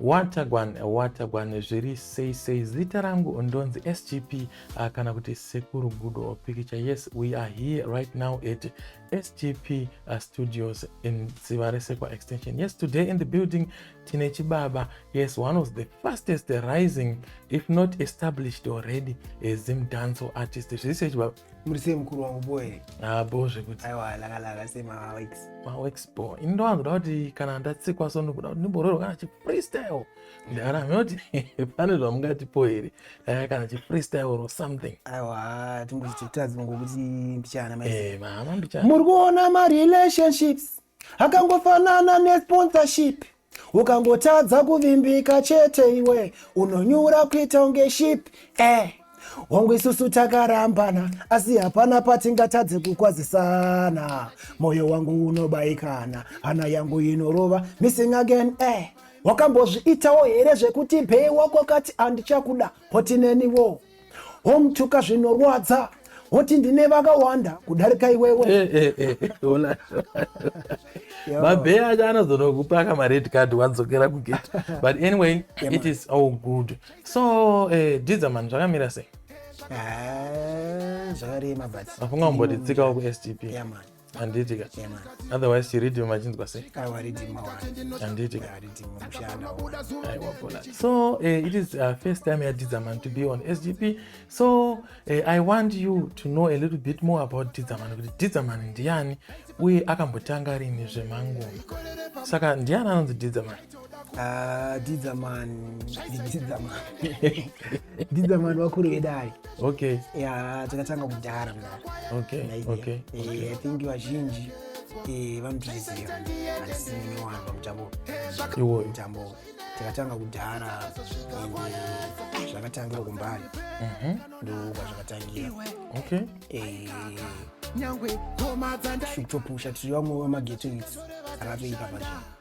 watagwan watagwan zviri sei sei zita rangu ndonzi sgp uh, ah, kana kuti sekuru gudo pikicha yes we are here right now at sgp uh, ah, studios in ziva resekwa extension yes today in the building tine chibaba yes one of the fastest rising if not established already a zim danco artist zvise chibaba muri sei mukuru wangu boe ah, bo zvekuti aiwa lakalaka sei mawex mawex bo ini ndowanzoda kuti kana ndatsikwa so ndokuda kuti ndimbororwa kana chifreestyle ndaramhe kuti pane zvamungatipo here dai kana chifreestyle or something aiwa timbochititadzi ngokuti mbichana eh, mama mbichana muri kuona marelationships akangofanana nesponsorship ukangotadza kuvimbika chete iwe unonyura kuita unge ship eh hongu isusu takarambana asi hapana patingatadze kukwazisana mwoyo wangu unobaikana hana yangu inorova missing again eh wakambozviitawo here zvekuti bhei wako kati handichakuda potineniwo womutuka zvinorwadza woti ndine vakawanda kudarika iwewe eh, eh, eh, mabhee acho anozonokupa ka mared card wadzokera kugate but anyway it is all good so uh, dizaman zvakamira sei zvakarema but vafunga kumbotitsikawo kustp handiti ka otherwise chiridhima machinzwa sei handiti so uh, it is uh, first time yadidzaman to be on sgp so uh, i want you to know a little bit more about didzaman kuti didzaman ndiani uye akambotanga rini zvemangoma saka ndiani anonzi didzaman Ah, didza man didza man didza man vakuru vedai okay ya takatanga kudhara mna okay okay eh, i think vazhinji eh, vanotiziva asi niwana pamutambo iwoyo mutambo takatanga kudhara eh, zvakatangira kumbari mhm. ndokwa zvakatangira okay eh, nyangwe koma dzandai kutopusha tiri vamwe vamageto itsi akatoipa pazvino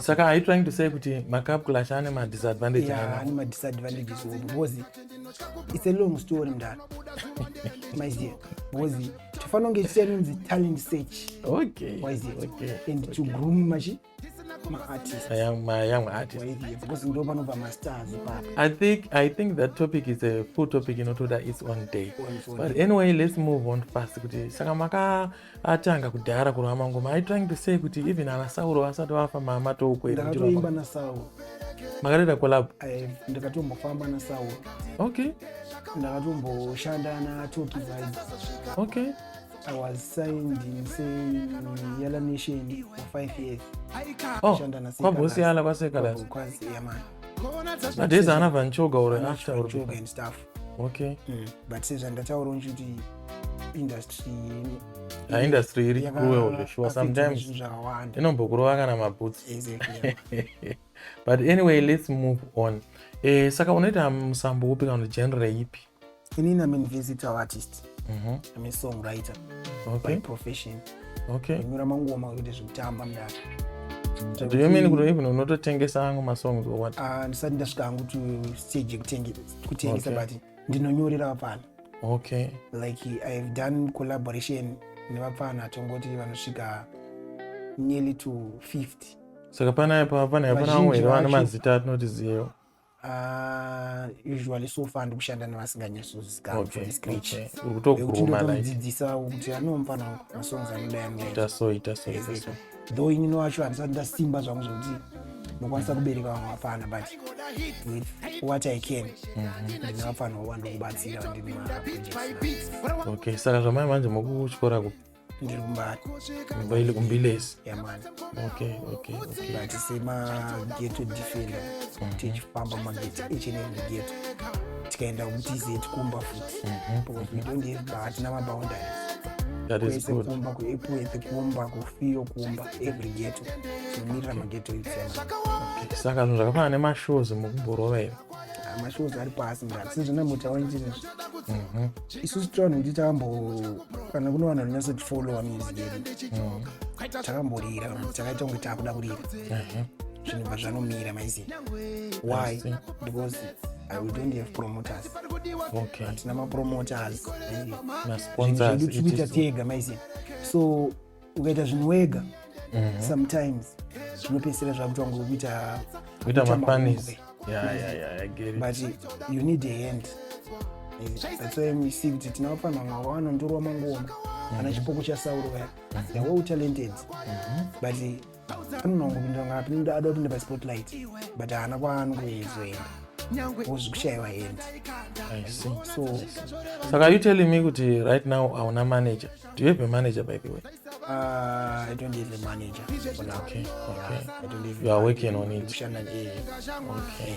saka are you trying to say kuti macup clash ane madisadvantage yeah, ane madisadvantages obo because it's a long story mdara maiziva because tofanira kunge tichinonzi talent search okay waiziva okay. and okay. to groom machi I think I think that topic is a full topic inotoda its own day. But anyway, let's move on fast kuti saka maka atanga kudhara kurova mangoma are trying to say kuti even ana sauro vasati vafa mama toukweimba nasauro makareda collab eh, ndakatombofamba nasauro okay ndakatomboshanda natoki vibe okay I was signed in saying Yala Nation for five years. Oh, kwa bosi Yala kwa Sekalas. Kwa Yamani. But there's another Nchoga or after. Nchoga and stuff. okay mm. but sezvandataura nchiti industry ah, industry iri cruel sure sometimes inombokurova kana maboots but anyway let's move on eh, saka unoita musambo upi kana genre ipi inini am invisital artist mm -hmm. am a songwriter okay. by profession okay nyora mangoma kuita zvekutamba mdaka Do you mean kuti even unototengesa angu masongs or what? Ah, ndisati ndasvika angu to stage yekutengesa kutengesa okay. but ndinonyorera vapfana okay. like ihave done collaboration nevapfana tongoti vanosvika nearly to 50 saka panaya papanaya pana vamwe here vane mazita atinoti ziyewo Ah, usually so far ndikushanda nevasinganyatsozikanzvekuti ndinotomudzidzisa kuti anomufana masongs anodayaitasoitasoita though inini wacho handisati ndasimba zvangu zvokuti ndokwanisa kubereka vamwe vapfana but with what i can mhm. ndine vapfana wova ndokubatsira vandine okay saka zvamai manje mokuchikora kupi ndiri kumbari mbaili kumbilesi yamani okay okay okay but semageto defender mhm. tichifamba mageti each and every geto tikaenda kutizeti kumba futi mhm. because we don't have hatina maboundaries kwese kumba kuepwese kumba kufiyo kumba every geto tinomirira mageto itsema saka zvinhu zvakafanana nemashows mukubhorova ivo ah, mashows ari pasi mrati sezvina mutaura njirizvi mhm. isusu tivanhu kuti takambo kana kune vanhu vanonyasotifollowa music yedu mhm. takamborira takaita kunge takuda kurira zvinhu bva zvanomira maizivi why because we don't have promoters okay. hatina mapromoters zvedu tikuita tega maiziva so ukaita zvinhu wega mhm. sometimes zvinopedzisira zvakutwa ngokuita but you need a hand that's why we see kuti tinawafanira vamwe vawanondorwa mangoma ana chipoko chasauro vaya they were talented mhm. but anonongopinda ngapi nda ada kupinda paspotlight but haana kwaani kuzoenda wozvikushaiwa hendi so saka you telling me kuti right now hauna manager do you have a manager by the way uh, i don't have a manager for now okay, okay. Yeah, i don't have you are working on it okay.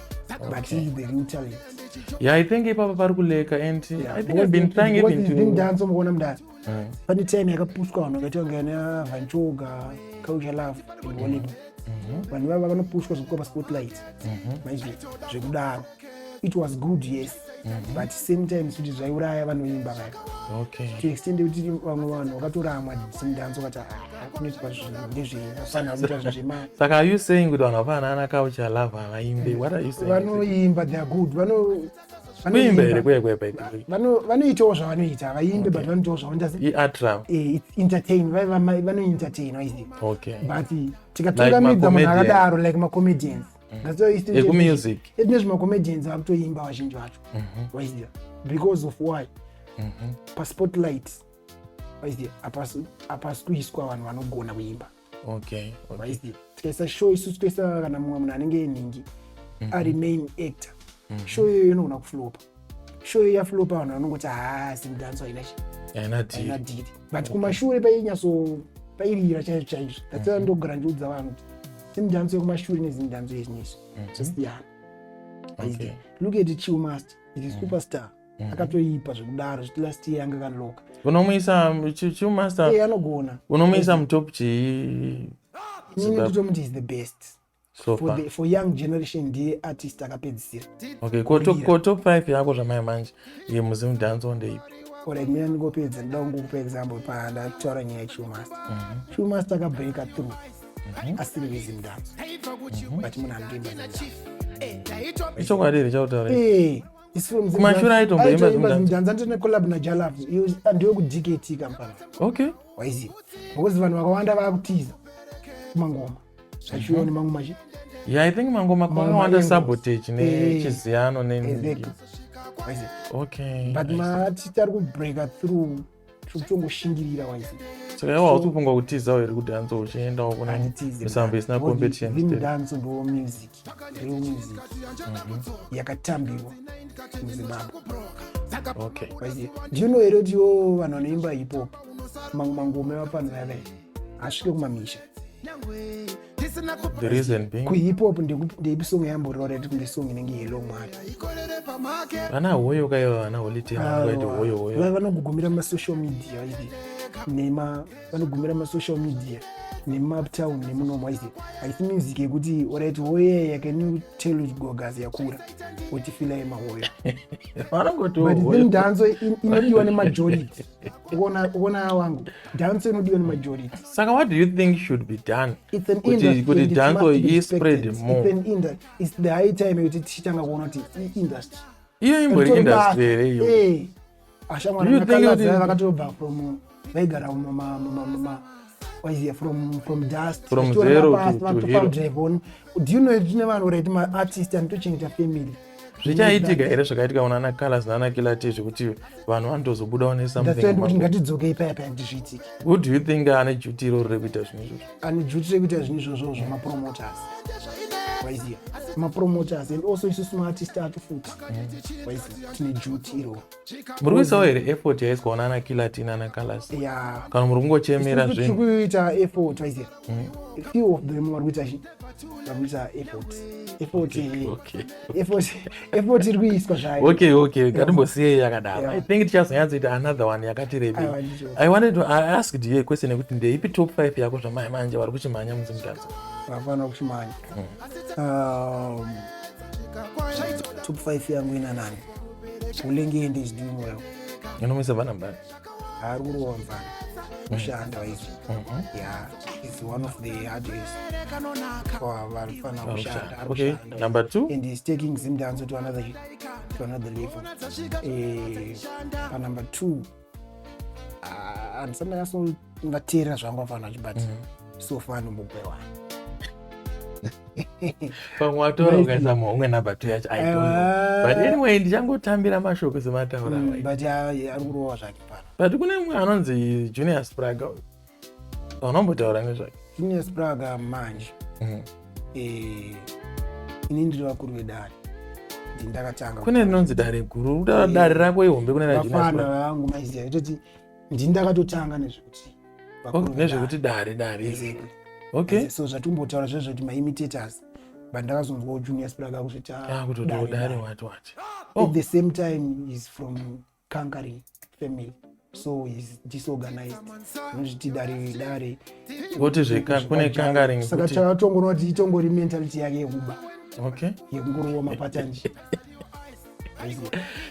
but he is the real talent yeah i think ipapa pari kuleka and yeah. i think i've been trying even to doing dance omukona mdara mm. pane time yakapushwa vanhu vakaita kunge ana vanchoga culture love iwoneka mm-hmm. vanhu vava vakanopushwa zvekupa spotlight mm-hmm. maizvi zvekudaro it was good yes mm-hmm. but same time kuti zvaiuraya vanoimba vaya okay. to extend kuti vamwe vanhu vakatoramwa simdanso vati kunoitwa ndezvefana kuita zvema saka are you saying kuti vanhu hapana ana culture love havaimbe what are you saying vanoimba they are good vano kuimba here kuye kuye vanoitawo zvavanoita havaimbe but vanoitawo zvavanoita eh, entertain vanoentertaina okay. but tikatungamidza munhu akadaro like macomedians ekumusicekune eh, zvimacomedians vakutoimba vazhinji vacho mhm. waiziva because of why mhm. paspotlight waiziva hapasi kuiswa vanhu vanogona kuimba waiziva tikaisa show isu tikaisa kana mumwe munhu anenge enhingi mhm. ari main actor show iyoyo inogona kuflopa show ya flow pa vanhu vanongoti ha sim dance haina chi haina deal but kumashure painyatso pairira chaizvo chaizvo that's why mhm. ndogara ndiudza vanhu kuti sim dance yekumashure ne sim dance yezvinezvi mhm. zvasiyana okay. look at chill master it is mhm. superstar mhm. akatoipa zvekudaro zviti last year anga kaloka unomuisa chill master anogona unomuisa mutop chii inini nditomuti is the best so for, the, for young generation ndiye artist akapedzisira okay ko top, ko top 5 yako zvamai manje ye muzimu dance on ndeipi like mina ndingopedza ndida kungokupa example pandataura nyaya yechumasta mhm. chumasta akabreaka through mhm. asiri muzimu dance mhm. but munhu anongoimba ichokwadi here chautaura eh, kumashura aitomboimba zimudhanza ndiri necollab najalav ndiwe kudkt kampani okay waiziva ngokuti vanhu vakawanda vakutiza kumangoma zvachiuya mhm. nemamwe machi yeah i think mangoma kwakawanda sabotage nechiziyano nenziki okay but mati tari kubreaka through tiri kutongoshingirira waise saka iwo hausi kufunga kutizawo here kuti hanzi uchiendawo kuna misambo isina competition danso ndo music remusic mhm. yakatambiwa muzimbabwe okay. do you know here kuti iwo vanhu vanoimba hip hop mamwe mangoma evapanhu vave asvike kumamisha kuhip hop ndeipi song yamborora ti kunge song inenge yelo mwari vana hoyo kaiva vana holitema ah, vanogugumira mumasocial media nema vanogumira masocial media nemumatown nemunomu aise aisi music yekuti orit hoye yakenu telo gogas yakura otifila yemahoyo but then danso inodiwa nemajority ukona wangu danso inodiwa nemajority saka what do you think should be done kuti danso ispread more its the high time yekuti tichitanga kuona kuti iindustry iyo imbori industry here iyo ashamwari ah, vakaladza vakatobva from vaigara mumamamamama was here from from dust from zero to, to hero drive on do you know tine vanhu right ma artist and tochengeta family zvichaitika here zvakaitika kuna ana colors naana kilati zvekuti vanhu vanotozobudawo nesamthing kuti ngatidzokei paya paya kuti zviitike who do you think ane duty iroro rekuita zvinhu izvozvo and juti rekuita zvinhu izvozvo zvemapromoters waiziva mapromoters and also isusu maartist atu futi waiziva tine juti iroo muri kuisawo here effort yaiswa ona ana kilatin ana kalas kana muri kungochemera zvinhu kuita effort waiziva hmm. few of them vari kuita vari kuita effort effort eh. effort iri kuiswa zvayo okay okay ngatimbosiyei yakadaro i think tichazonyatsoita another one yakati rebi i wanted to I asked you a question yekuti ndeipi top 5 yako zvamai manje vari kuchimhanya munzi mutadzo vafana kuchimhanya hmm. um, top 5 yangu ina nani ulenge ende zidimo yako inomisa vana mdani haari kuronza kushanda mm. izvi mm-hmm. ya is one of the hardest kwavarifana kushanda okay number two and is taking zimdanso to another to another level eh, pa number two ah, andisana yaso vateerera zvanga vanhu vachibata mm. so far anombogwewana pamwe watora ukaisa maumwe number two yacho i don't know but anyway ndichangotambira mashoko semataura mm, but ari kurova zvake pano but kune mumwe anonzi junior spraga unombotaura nezvake junior spraga manje mm. eh, ini ndiri vakuru vedare ndindakatanga kune rinonzi dare guru dare rako ihombe kune rajunior spraga vangu maiziva itoti ndini ndakatotanga nezvekuti oh, nezvekuti dare dare exactly. okay. so zvatimbotaura zve zvekuti maimitators but ndakazonzwa ujunior sprak akuzviti ah, kutodare wati wati oh. at the same time is from conquering family so is disorganized unozviti dare dare voti zvekune conquering saka takatongoona kuti itongori mentality yake yekuba okay. yekungorova mapatanje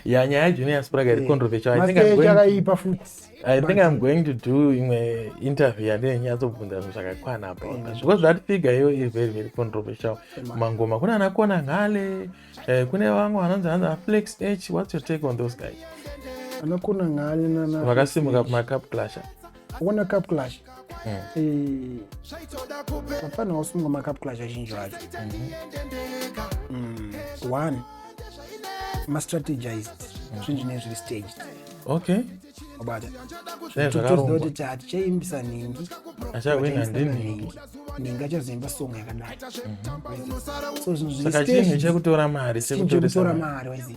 yeah nyaya yajunior spraga iri controversial chakaipa futi i think i'm going to do imwe interview yandine nyatsobvunza zvinhu zvakakwana apo mm. zviko zvati figa iyo iri very very controversial mangoma kune anakona ngale eh, kune vamwe vanonzi hanzi aflex h what's your take on those guys anakona ngale vakasimuka kumacaplasha akuona cup clash hmm. eh, mafana wasunga macup clash azhinji acho hmm. hmm. one mastrategized zvinji nezviri staged okay wabata zvakarongakuti chatichaimbisa nhingi achawina ndinhingi nhingi achazoimba song yakadai mhm. so zvinhu zviri staged chekutora mari sekutora mari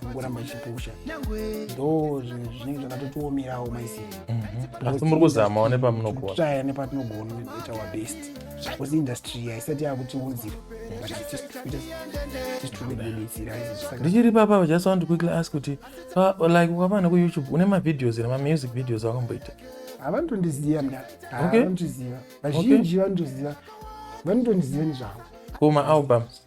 kungoramba ichipusha ndo zvinenge zvakatotiomerawo maisi mm-hmm. asi muri kuzamawo nepamunogonaya nepatinogona kuita our best bcause industry haisati yakutiunzira ndichiri papa just want to quickly ask kuti like ukavana kuyoutube une mavideos here mamusic videos akamboita havanotondiziva mna havanotiziva vazhinji vanotoziva vanotondiziva nezvavo kuma albums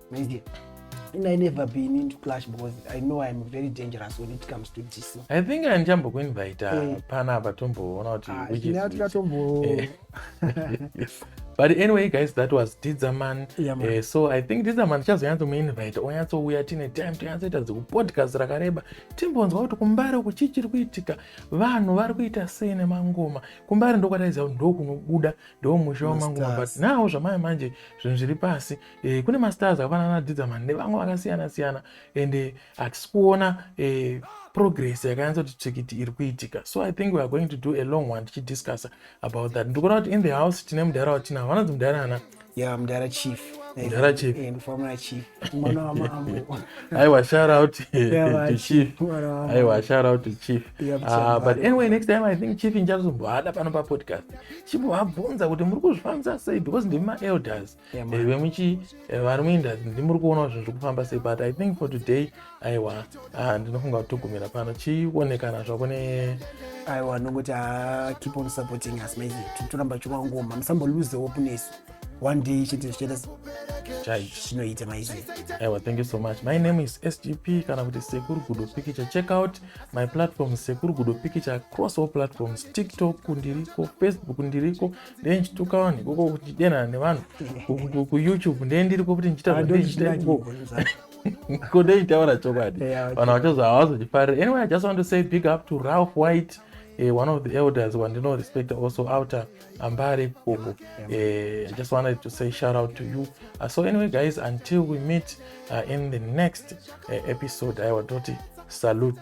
Manje, and I never been into clash because I know I'm very dangerous when it comes to this. I think andichambokuinvita Eh. pana apa tomboona kuti Ah, which is tinouya which. tikatombo Eh. but anyway guys that was didzaman Yeah, man. Eh, so i think didzaman tichazonyatsomuinvite onyatsouya tine time tonyatsoita dzekupodcast rakareba timbonzwa kuti kumbare uku chii chiri kuitika vanhu vari kuita sei nemangoma kumbare ndokwataiziva kuti ndokunobuda ndomusha wamangoma but Masters. now zvamaya manje zvinhu zviri pasi e, kune mastars akafanana nadidzaman nevamwe vakasiyana siyana and eh, hatisi kuona e, progress yakanyatsa kuti tsvikiti iri kuitika so i think weare going to do a long one tichidiscussa about that ndikuona kuti in the house tine mudhara watinavo vanonzi mudhara ana ya mudhara chief mudhara chief eh, ndifamuna chief mwana wamambo aiwa shout out to chief aiwa shout out to chief ah, but anyway next time i think chief injazombohada pano papodcast chimbovabvunza kuti muri kuzvifambisa sei because ndimi maelders Eh, vemuchi eh, vari muinda ndimuri kuonawo zvinhu zviri kufamba sei but i think for today aiwa ah, ndinofunga kuti togumira pano chionekana zvako ne aiwa ndongoti ah, keep on supporting us maizi toramba chirwangoma musamboluze hope nesu one day chete zvichaita chinoita maizi aiwa thank you so much my name is sgp kana kuti sekuru gudo pikicha check out my platform sekuru gudo pikicha across all platforms tiktok ndiriko facebook ndiriko ndenchituka vanhu ikoko kuchidenana nevanhu kuyoutube ndee ndiriko kuti ndichitaiko ndechitaura chokwadi vanhu vachazo havazochifarira anyway i just want to say big up to ralph white uh, one of the elders wandino respect also outer ambare koko eh, i just wanted to say shout out to you uh, so anyway guys until we meet uh, in the next uh, episode i watoti salute